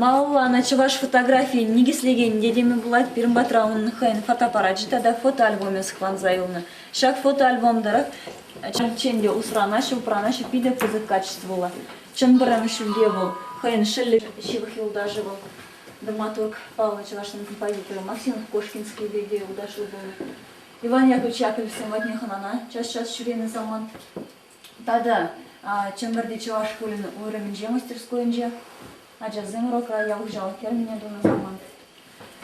Малалла ӑна чӑваш фотографийӗн никӗслекен йӗтемӗ пулать пирӗн патра унӑн хӑйӗн фотоаппарачӗ тата фотоальбомӗ сыхланса юлнӑ. Ҫак фотоальбом тӑрӑх чӑн те усранаҫҫӗ, упранаҫҫӗ питӗ пысӑк качествӑллӑ. Чӑн пӗрремӗш ҫӳлте вӑл хӑйӗн шӑллӗ, ҫывӑх юлташӗ вӑл, драматург паллӑ чӑвашӑн композиторӗ Максимов Кошкинскийпе те юлташлӑ пулнӑ. Иван Яковлевич Яковлевсем патне хӑнана час-час ҫӳренӗ самант Тата Чӗмпӗрти чӑваш шкулӗн уйрӑмӗнче мастерскойӗнче ачасем урокра ял хуҫалӑх фермине тунӑ самант.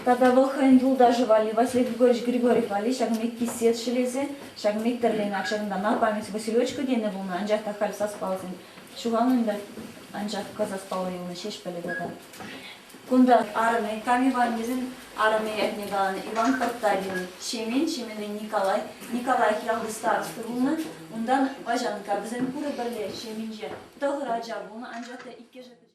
Тата вӑл хӑйӗн юлташӗ валли Василий Григорьевич Григорьев валли ҫакӑн пек кисет ҫӗлесе, ҫакӑн пек тӗрленӗ ҫакӑнтана память Василечка тенӗ пулнӑ, анчах та халь сас палӑрсен ҫухалнӑ ӗнтӗ, анчах кӑ сас паллӑ юлнӑ ҫеҫ пӗлӗ тата. Кунта арӑмӗ, кам Иваннисен арӑмӗ ятне каланӑ Иван Картавин, Ҫемен, Ҫеменӗн Николай, Николаев ялти староста пулнӑ, унтан Ваҫанкка, вӗсем пурӗ пӗрле Ҫеменче тӑхӑр ача пулнӑ, анчах та иккӗшӗ пӗчӗк.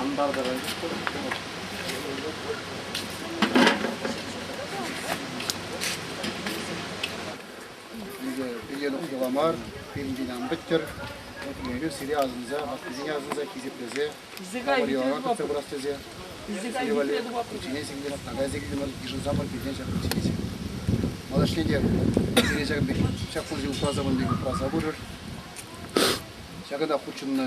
Антартӑран Пире тухтӑла мар, пирӗнтен ан пӗттер. Эпир сире асӑнса, ваккине асӑнса хисеплесе, амӑрилара тытса пырас тесе, пичине сикнӗмӗр, така сикнӗмӗр, йышӑнсамӑр пиртен ҫак пичине сикнӗ. Малашне те сире ҫакӑн пек ҫак пурсем упраса мӑн пек упраса пырӑр. Ҫакӑнта хутшӑннӑ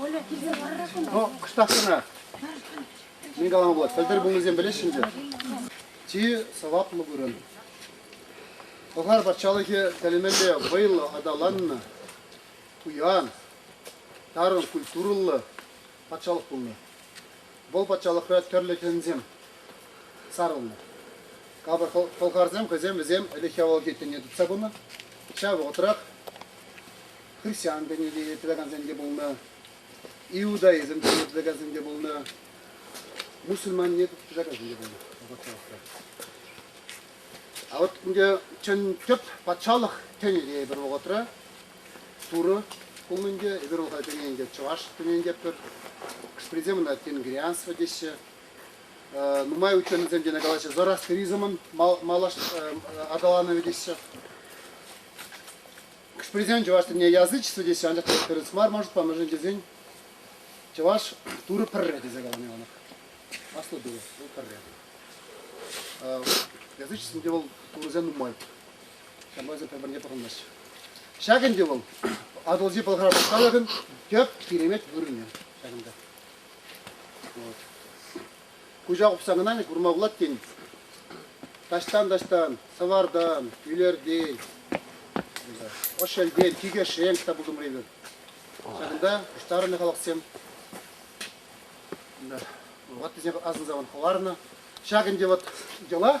Оля, килсе варра куна. Ну, кӑштах кӑна. Мӗн калама пулать, пӗлтӗр пулнисем пӗлеҫҫӗ ӗнтӗ. Чи сӑваплӑ вырӑн. Пӑлхар патшалӑхӗ тӗлӗмелле вӑйлӑ аталаннӑ, пуян, тарӑн культурӑллӑ патшалӑх пулнӑ. Вӑл патшалӑхра тӗрлӗ хӗнсем сарӑлнӑ. Капӑр пӑлхарсем хӑйсем вӗсем ӗлӗкхи авалхи тӗне тытса пынӑ. Ҫав вӑхӑтрах христиан тӗне те тытакансем те пулнӑ, иудаизм тӗне тытакансем те пулнӑ, мусульман тӗне тытакансем те пулнӑ патшалӑхра. А вот ӗнтӗ чӑн тӗп патшалӑх тӗнӗ те пӗр вӑхӑтра Турӑ пулнӑ ӗнтӗ. Эпир унта пире ӗнтӗ чӑваш тӗренетпӗр. Хӑш пӗрисем ӑна тенгрианство теҫҫӗ. Нумай утсан вӗсем тенӗ калаҫҫӗ зороастеризмӑн аталанӑвӗ теҫҫӗ. Хӑш-пӗрисем чӑваш тӗнне язычество теҫҫӗ, анчах та тӗрӗс мар маршрутпа мӗншӗн тесен чӑваш Турӑ пӗрре тесе каланӑ Иоаннах. Аслӑ Турӑ, вӑл пӗрре. Язычествӑн те вӑл турӑсем нумай. Ҫапӑҫу пӗр-пӗрне пӑхӑнмасть. Ҫак ӗнтӗ вӑл Атӑлҫи Пӑлхар патшалӑхӗн тӗп киремет вырӑнӗ ҫакӑнта. Вот. Куҫа хупсан кӑна курма пулать тен. Таҫтан-таҫтан, сӑвартан, ӳлертен, ӑшелтен, тикӗ шенк та пултӑмри Ҫакӑнта пуҫтарӑннӑ халӑхсем ваттисем асӑнса хӑварнӑ. Ҫак ӗнтӗ вот йӑла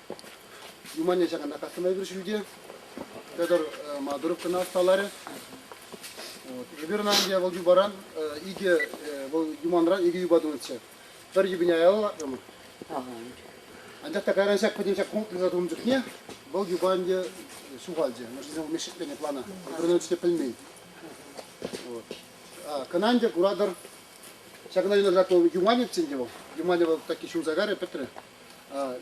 Юманне ҫакана касӑма эпир ҫӳлте. Петр Мадуров кӑна ӑсталарӗ. Эпир ӑна ӗнтӗ вӑл юпаран икӗ, вӑл юманран икӗ юпа тунӑччӗ. Пӗр юпине аяларӑмӑр. Анчах та кайран ҫак пӗтӗм ҫак пункт туса тунӑ чухне вӑл юпа ӗнтӗ ҫухалчӗ. Мӑшкӑсем вӑл мешкетленӗ плана. Пӗр те пӗлмен. Кӑна ӗнтӗ куратӑр, ҫакна юнашарах вӑл Юманевччӗ ӗнтӗ вӑл. Юманев вӑл такки ҫунса карӗ, пӗтрӗ.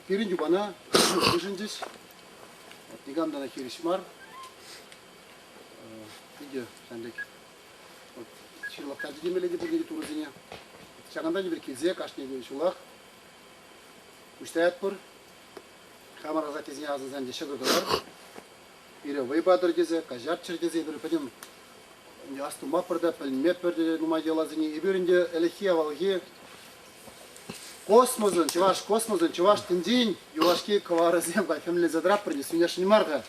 Пирӗн юпана хушӑнчӗҫ. Никам та хирӗҫ мар. Питӗ ҫан пек ҫырлахтарчӗ темелле те пурне те турӑсене. Ҫакӑнта тепӗр килсе кашни ҫулах уҫтаятпӑр. Хамӑр асаттесене асӑнсан те ҫӑкӑр тӑвар. Пире вӑй патӑр тесе, каҫарччӑр тесе эпир пӗтӗм астумаппӑр та, пӗлмеппӗр те нумай йӑласене. Эпир ӗнтӗ ӗлӗкхи авалхи космосӑн, чӑваш космосӑн, чӑваш тӗнчин юлашки кӑварӗсем хӗмленсе тӑратпӑр те сӳнесшӗн мар-ха.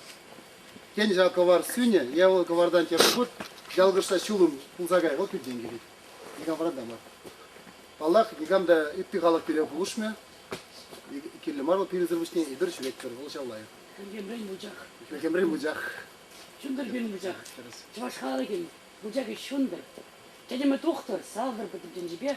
Тен, ҫав кӑвар сӳнӗ, е вӑл кӑвартан тепӗр хут ялкӑшса ҫулӑм пулса кайӗ, вот питтен килет. Никам вырӑнта мар. Паллах, никам та ытти халӑх пире пулӑшмӗ. Кирлӗ мар вӑл пирӗнсӗр пуҫне эпир ҫӳретпӗр, вӑл ҫав лайӑх. Ӗлкемрен вучах. Ӗлкемрен вучах. Чунтӑр пирӗн вучах. Чӑваш халӑхӗн вучахӗ чунтӑр. Тӗтӗмӗ тухтӑр, салтӑр пӗтӗм тӗнчипе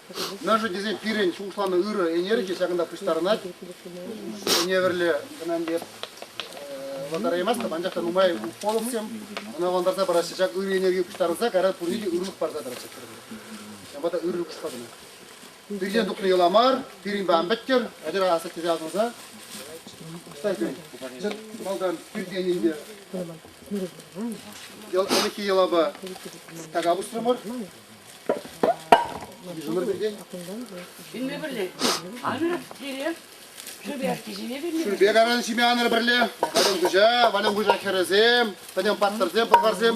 Мӗншӗн тесен пирӗн шухӑшланӑ ырӑ ӗнер те ҫакӑнта пуҫтарӑнать. Ӗневӗрле кӑна ӗнтӗ вӑлтараймастӑп, анчах та нумай уколовсем ӑна вӑлтарса параҫҫӗ. Ҫак ырӑ ӗневе пуҫтарӑнса кара пурне те ырлӑх парса тӑраҫҫӗ. Ҫавӑнпа та ырӑлӑхпа кӑна. Пиртен тухнӑ йӑла мар, пирӗнпе ан пӗттер, ачӑра асӑк тесе асӑнса пуҫтарсен. Малтан пиртенӗнпе ӗлӗкхи йӑлапа така пусрӑмӑр. Ҫӳле пӗрле. Анӑр, тире. Шӳрпе кичене пӗрле. Шӳрпе каран ҫиме анӑр пӗрле. Валюм хуҫа, Валюм хуҫа хӗрӗсем, пӗтӗм паттӑрсем, пӑлхарсем.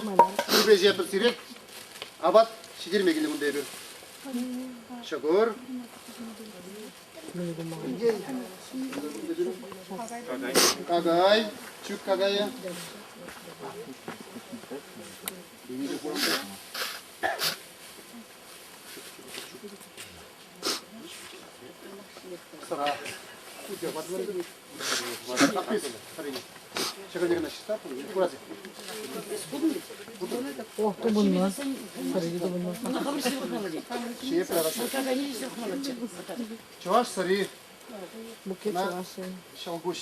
Шӳрпе ҫепӗр сирек. Апат ҫитерме килнӗ кунта эпир. Ҫӑкӑр. Какай. Чӳк какайӗ. О, тупӑнмас. Сӑрри тупӑнмас. Чие прарасın. Чӑваш сӑри. Букет чӑваши. Ҫӑлкуҫ.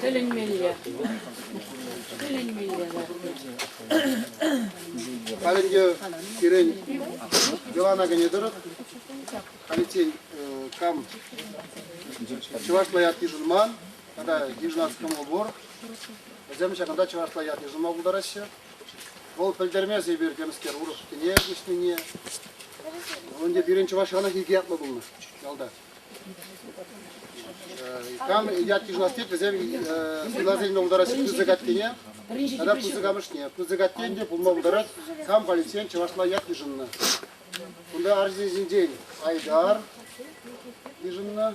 Тӗлӗнмелле. Тӗлӗнмелле. Павел пирен йӑлана кӗне тӑрӑх, халиччен кам чӑвашла ят йышӑнман, тата граждан кӑмӑл пур. Вӗсем ҫакӑнта чӑвашла ят йышӑнма пултараҫҫӗ. Вӑл пӗлтермест эпир темскер урӑхскине куҫнине. Вӑл ӗнтӗ пирӗн чӑваш халӑхӗ икӗ ятлӑ пулнӑ ялта. Кам ят йышӑнас тет, вӗсем суйласа илме пултараҫҫӗ пысӑк аттене тата пысӑк амӑшне. Пысӑк атте ӗнтӗ пулма пултарать, кам полицейӑн чӑвашла ят йышӑннӑ. Кунта арҫынсенчен Айдар йышӑннӑ.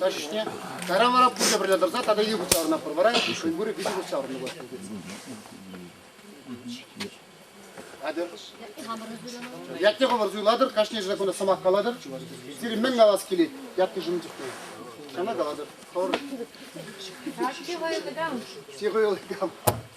Каҫӗҫне кайран вара пурте пӗрле тӑрса тата йывӑҫ савӑнатпӑр. Вара шуйгурӗ виҫӗ хут савӑннӑ пулать. Атьӑр. Ятне хӑвӑр суйлатӑр, кашни ҫӗре кунта сӑмах калатӑр. Сирӗн мӗн калас килет ятнӑшӑн чухне? Ҫавна калатӑр. Хӑвӑр. Сире хӑйӑлыкам.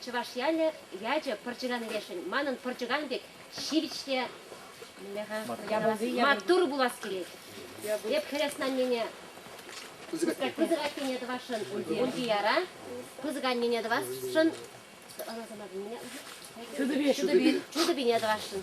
Чӑваш ялӗ ячӗ пӑрчӑкан лешӗн манӑн пӑрчӑкан пек ҫивӗч те маттур пулас килет. Эп хӗреснаннене пысӑк аннене тӑвасшӑн, Ульдияра пысӑк аннене тӑвасшӑн, Чудупи, Чудупине тӑвасшӑн.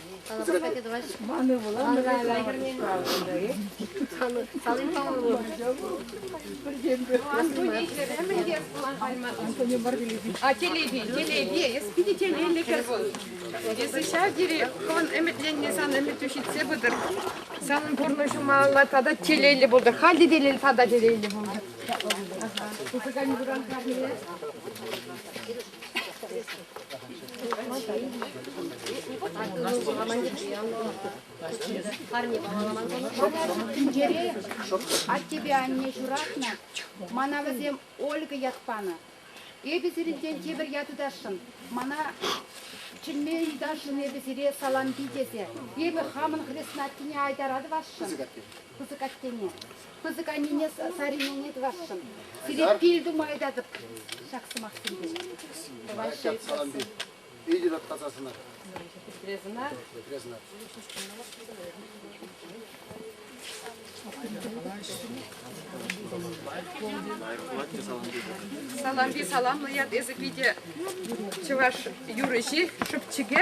Ман ывӑлам Салимпа ывӑл. Антони Барбилеви. А телеви, телеви, эспидителелле кӗрбун. Если ҫав тери кон ӗмӗтленнӗ сан ӗмӗтӳ ҫитсе пытӑр. Санӑн пурнӑҫума алла тата телейлӗ пултӑр. Халӗ телейлӗ, тата телейлӗ пултӑр. Тупӑкани выран карне. Тӗнчере аттепе анне ҫуратнӑ, мана вӗсем Ольга ят панӑ. Эпӗ сирӗнтен тепӗр ят ытасшӑн. Мана чӗнме ыйтасшӑн эпӗ сире Салампи тесе. Эпӗ хамӑн хрест Наттине айтара тӑвасшӑн, пысӑк аттене. Пысӑк анне Сарине тӑвасшӑн. Сире пил тума ыйтатӑп ҫак сӑмахсемпе. Тӑваҫҫӗ. Салампи. Питӗ таптаса сана. Петрезӑна. Петрезӑна. Салампи саламлӑ ят эсӗ питӗ чӑваш юрӑҫи шӑпчӑкӗ.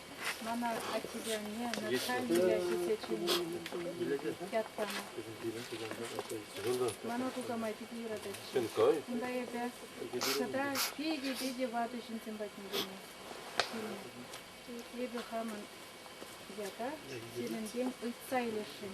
Мана аттесене Наталья ҫитсе чӗннӗ ят панӑ. Мана туса май питӗ юрататчӗ. Кунта эпӗ тата питӗ-питӗ ватӑ ҫынсем патне килнӗ. Эпӗ хамӑн ята сирӗнтен ыйтса илесшӗн.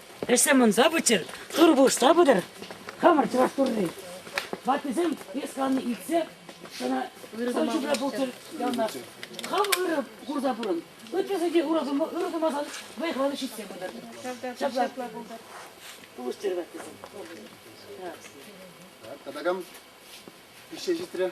Ӗҫсем ӑнса пыччӑр, тырӑ пусса пытӑр. Хамӑр чӑваш турри. Ваттисем Исланне илтсе ӑна ҫумра пулчӑр ялта. Хам ырӑ курса пурӑн. Ытлашши те ура сумма ырӑ сумасан вӑйхланӑ ҫитсе пытӑр. Ҫапла пултӑр. Пулӑштӑр ваттисем. Тӑтакам пиҫсе ҫитрӗ.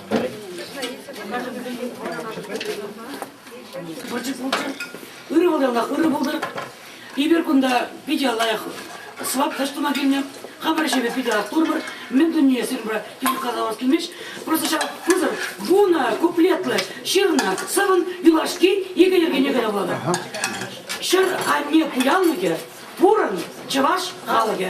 Вӑрҫӑ пултӑр. Ырӑ пултӑр, Аллах, ырӑ пултӑр. Эпир кунта питӗ лайӑх свап тӑш тума килнӗ. Хамӑр ӗҫе питӗ аттурпӑр. Мӗн туние сирӗн пура тем калавас килмест. Просто ҫав пусӑр вунӑ куплетлӑ ҫырнӑ сӑвӑн юлашки икӗ йӗркене кӑна вулатӑр. Ҫӗр анне пуянлӑхӗ, пурӑн чӑваш халӑхӗ.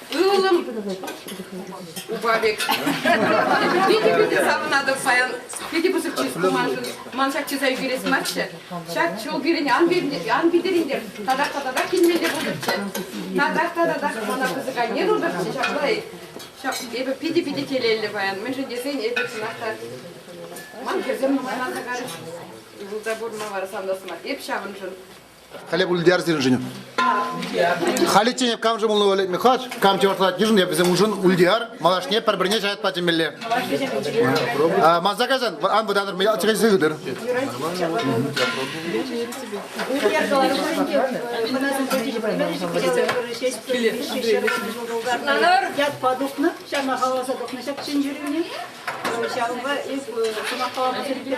Ывӑлӑм упа пек. Питӗ питӗ савӑнатӑп паян. Питӗ пысӑк чыс ку маншӑн. Ман ҫак чыса ӳкерес марччӗ. Ҫак ҫул пирӗн ан питӗрӗнтер. Татах та татах килмелле пултӑрччӗ. Татах та татах мана пысӑк анне пултӑрччӗ. Ҫаплай. Ҫак эпӗ питӗ питӗ телейлӗ паян. Мӗншӗн тесен эпӗ чӑнах та ман хӗрсем нумай ан тӑкарӗҫ. Ывӑлта пурӑнма вара савнас мар. Эп ҫавӑншӑн Халӗ ултияр сирӗншӗн. Халӗ тенӗ камшӑн пулнӑ валетме хӑш, кам чӑвашлатать йышӑн эп вӗсем уншӑн ултияр малашне пӗр-пӗрне ҫаятпа чӗнмелле. Ма заказан, ан вӑтанӑр, мӗн чӗкен сыхӑтӑр. Шутланар. Ятпа тухнӑ, ҫавна халаса тухнӑ ҫак чӗнчӳрӳне. Ҫавӑнпа эп сӑмахкалама сергей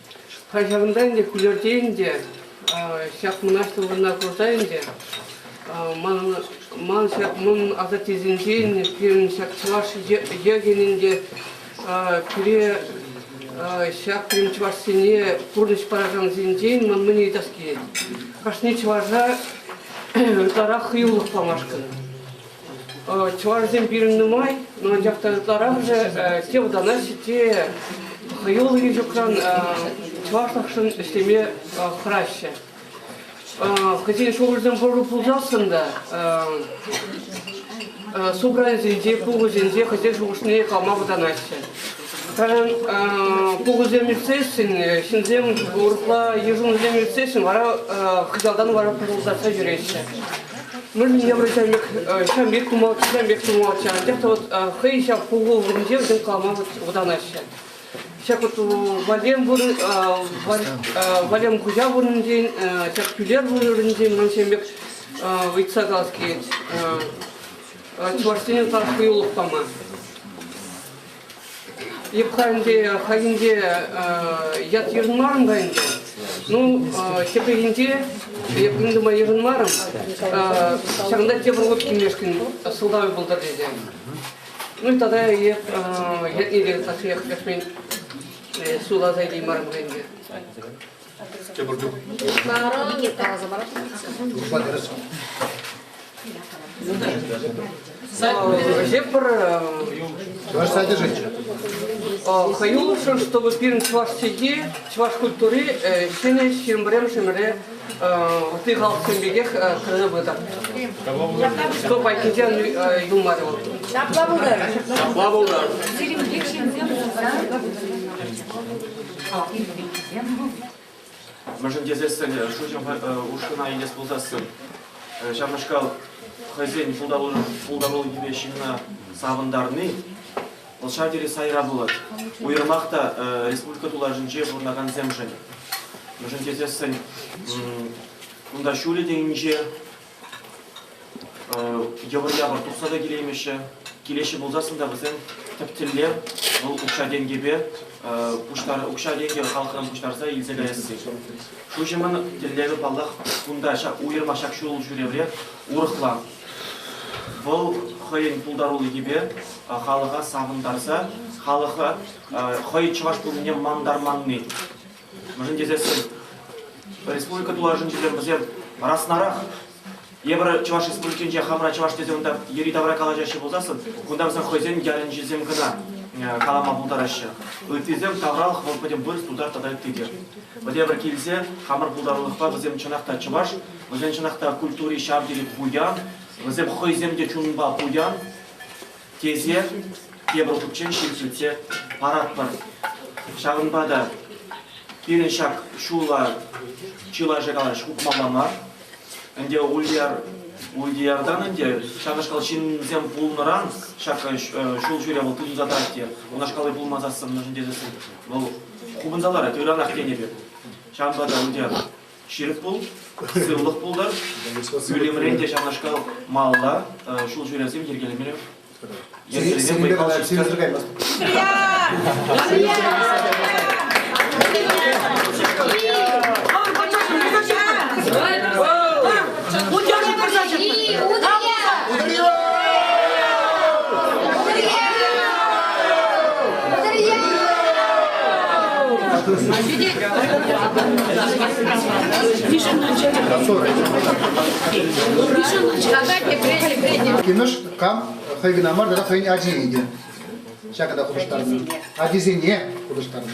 Ҫавӑнта ӗнтӗ Кӳлӗрте ӗнтӗ ҫак мӑнаҫлӑ курса ӗнтӗ ман асаттесенчен пирӗн ҫак чӑваш йӑхӗн ӗнтӗ пире ҫак пирӗн чӑвашсене пурнӑҫ паракансенчен ман мӗн ыйтас килет. Кашни чӑваша ытларах хӑюлӑх памашкӑн. Чӑвашсем пирӗн нумай, но анчах та ытларахӑшӗ те вӑтанаҫҫӗ, те хӑюллӑ ҫукран чӑвашлӑхшӑн ӗҫлеме хӑраҫҫӗ. Хӑйсен шухӑшӗсем пур пулсассӑн та собранисенче, пухусенче хӑйсен шухӑшне калма вӑтанаҫҫӗ. Пирӗн тухӑсем ӳсесшӗн, ҫынсем урӑхла йышӑнусем ӳсесшӗн, вара хыҫалтан вара пӑшӑлтатса ҫӳреҫҫӗ. Мы немрачамек ҫамбек тумалччӗ, ҫамбек тумалччӗ, анчах та вот хӑй ҫав пухуллӑхӗнче вӗсем калама вӑтанаҫҫӗ. Ҫак вот валем вырӑн, валем хуҫа вырӑнӗнчен, ҫак тӳлер вырӑнӗнчен ман ҫамбек ыйтса калас килет. Чӑвашсене тас хӑюлӑх пама. Епхальте хальхинче ят йышӑнмарӑм-ха ӗнтӗ. Ну, тепрехинче эппин тума йышӑнмарӑм. Ҫакӑнта тепӗр хут килмешкӗн сӑлтавӗ пултӑр тесе. Ну, тата эп ятне те тасиях кӗрсмен суласа илеймарӑм ӗнтӗ. Тепӗр чух Никит каласа парать. Урпа кӗрес. Вообще Чуваш содержите. Хаюлышӑн, чтобы пирӗн чӑваш чӗлхи, чӑваш культури ҫӗнӗ ҫирӗмпӗрем ҫӗмӗре ты халксем пекех кӗрсе пытар. Что пойкинчен юлмарӗ вӑл? Ҫапла пултар. Ҫапла пултар. Сирӗн пек ҫынсем Мӗншӗн тесессӗн шуҫӑм ушкӑна илес пулсассӑн ҫавнашкал хӑйсен пултарулӑхӗпе ҫынна савӑнтарни вӑл ҫав тери сайра пулать. Уйрӑмах та республика тулашӗнче пурӑнакансемшӗн. Мӗншӗн тесессӗн кунта ҫулӗ те инҫе, Йӑпӑр-япӑр тухса та килеймеҫҫӗ. Килеҫҫӗ пулсассӑн та вӗсем тӗп тӗллев вӑл укҫа-тенкӗпе укҫа-тенкӗ халӑхран пуҫтарса илсе каясси. Шуҫӑмӑн тӗллевӗ, паллах, кунта уйӑрма ҫак ҫул ҫӳревре урӑхла. Вӑл хӑйӗн пултарулӑхӗпе халӑха савӑнтарса, халӑха хӑй чӑваш пулнине мантарманни. Мӗншӗн тесессӗн республика тулашӗнчисем вӗсем раснарах. Эпир Чӑваш Республикинче хамӑра чӑваш тесе унта йӗри-тавра калаҫаҫҫӗ пулсассӑн, кунта вӗсем хӑйсен ялӗнчисем кӑна э, калама пултараҫҫӗ. Ыттисем тавралӑх вӑл пӗтӗм вырӑс, тутар тата ытти те. Вӗтепӗр килсе хамӑр пултарулӑхпа вӗсем чӑнах та чӑваш, вӗсен чӑнах та культури ҫав тери пуян, вӗсем хӑйсем те чунпа пуян. тесе тепӗр хутчен ҫил сӳтсе паратпӑр. Ҫавӑнпа та пирӗн ҫак ҫула чылайӑшӗ калаҫ утмалла мар. Ӗнтӗ Ульяр Ульдияртан ӗнтӗ ҫакнашкал ҫынсем пулнӑран ҫак ҫул ҫӳре вӑл тытӑнса тӑрать те унашкалли пулмасассӑн мӗншӗн тесессӗн вӑл хупӑнса ларать, ыранах тенӗ пек. Ҫавӑнпа та Ульдияр ҫирӗп пул, сывлӑх пултӑр. Ӳлӗмрен те ҫавнашкал малта ҫул ҫӳревсем йӗркелемелле йӗркелеме вӑй сирӗнсӗр каймасть. Утяна пырса чӑтмӑр. Утырье! Кинош кам хӑй кӑна мар тата хӑйӗн ачи ӗнтӗ. Ҫакӑ та хутӑштарнӑ. Ачисене хутӑштарнӑ.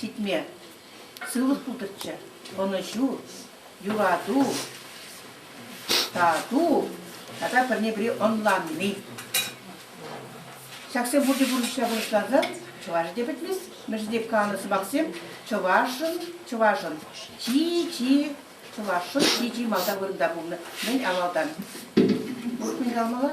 Ҫитме сывлӑх пултӑрччӗ. Ӑнӑҫу, юрату, тату тата пӗрне-пӗри ӑнланни. Ҫаксем пурте пурнӑҫра пурнӑҫланса чӑвашӗ те пӗтмест. Мӗншӗн тек каланӑ сӑмахсем чӑвашӑн, чӑвашӑн чи-чи, чӑвашӑн чи-чи малта вырӑнта пулнӑ. Мӗн авалтан? Урӑх мӗн калмалла?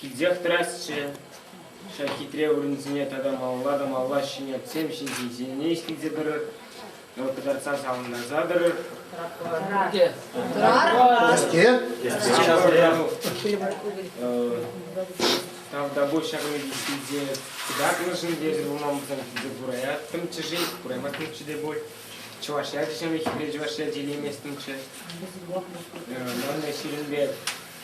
Килсех тӑрасчӗ ҫак хитре вырӑнсене тата малла та малла ҫӗнетсем ҫинчен илсе тӑрӑр, кӑтартса савӑнтарса тӑрӑр. Каске? Тавтапуҫ ҫак медицинте кӑтартнӑшӑн тесӗр пулман пулсан килсе кураяттӑмччӗ-ши, кураматтӑмччӗ те пуль. Чӑваш ячӗ ҫамрӑк хитре чӑваш ячӗ илейместӗмччӗ. Манна сирӗнпе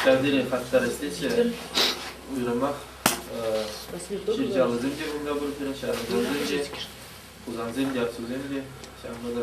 Ҫавсене хастарӗслеҫҫӗ. Уйрӑмах ҫырчаллисем те кунта пурччӗ, ҫарсем те, хусансем те, аксусем те. Ҫавӑнпа та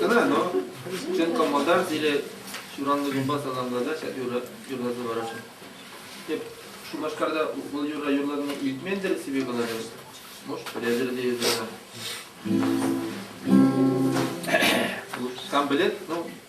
Кӑна, но сен комода или ҫуранлӑ кунпа саламласа ҫак юрра юрласа параҫҫӗ. Эп Шупашкарта бұл юрра юрланине илтмен-тӗр себе каларӗ. Может, пӗлетӗр те юрра. Там билет, ну,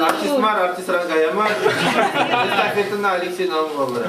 Артист мар, артистран кая мар. Репертуарна Алексей Наумовлара.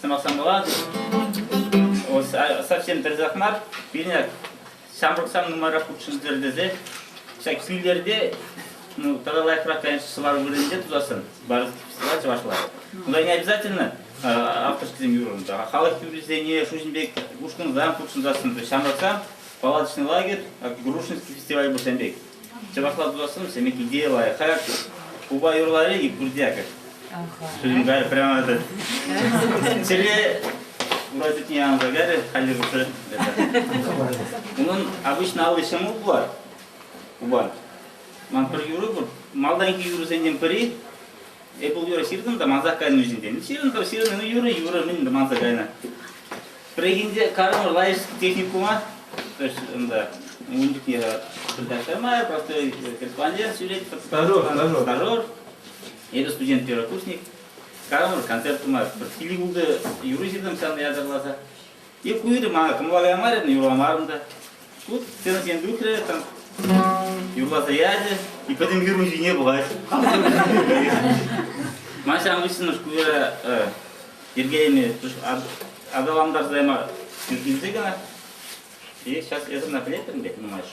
Сӑмахсам пулан. Совсем тӗрсах мар. Пине ҫамрӑк сам нумайрах хутшӑнтӑр тесе ҫак килтерте ну, тата лайӑхрах, конечно, сӑвар вырӑнӗнче тусассӑн барышла чӑвашла. Куда не обязательно авторскисем юрӑнса, халӑх юррисене шуҫӑм пек ушкӑнсан хутшӑнсассӑн ҫамрӑксам палаточный лагерь, Грушинский фестиваль пулсан пек. Чӑвашла пулассӑн сӗмӗк идея лайӑх. Хаяк купа юрларӗ и бурдякать. Студент кайрӗ прямо этот чӗре ура чутне янӑса кайрӗ, хальлӗх уже Унӑн обычно алли ҫӑмӑл пулать, купа. Ман пӗр юрӑ пур, малтанхи юрӑсенчен пӗри Эппл юрӑ ҫыртӑм та мансах кайнӑ вӗҫӗнчен. Ҫырӑнтӑм, ҫырӑннӑ юрӑ, юрӑ мӗн те манса кайнӑ. Пӗррехинче Карамыр лайӑш техникума, то есть унта ун чухне пытать мая, просто корреспондент ҫӳрет. Старор, старор. Старор. Эпӗ студент первокурсник. Карамыр концерт тума бір филигулды юрӑ ҫыртӑм ҫанна ятарласа. Эп уйрӑм мана кӑмӑлламарӗ, юрламарӑм та. Тут сценӑсем тухрӗ, там юрласа ячӗ. И пӗтӗм фирма ҫине пӑхать. Ман ҫавӑн хыҫҫӑн шкуя йӗркелеме аталантарса яма килсе кӑна. И сейчас это наклеплем, блядь, понимаешь.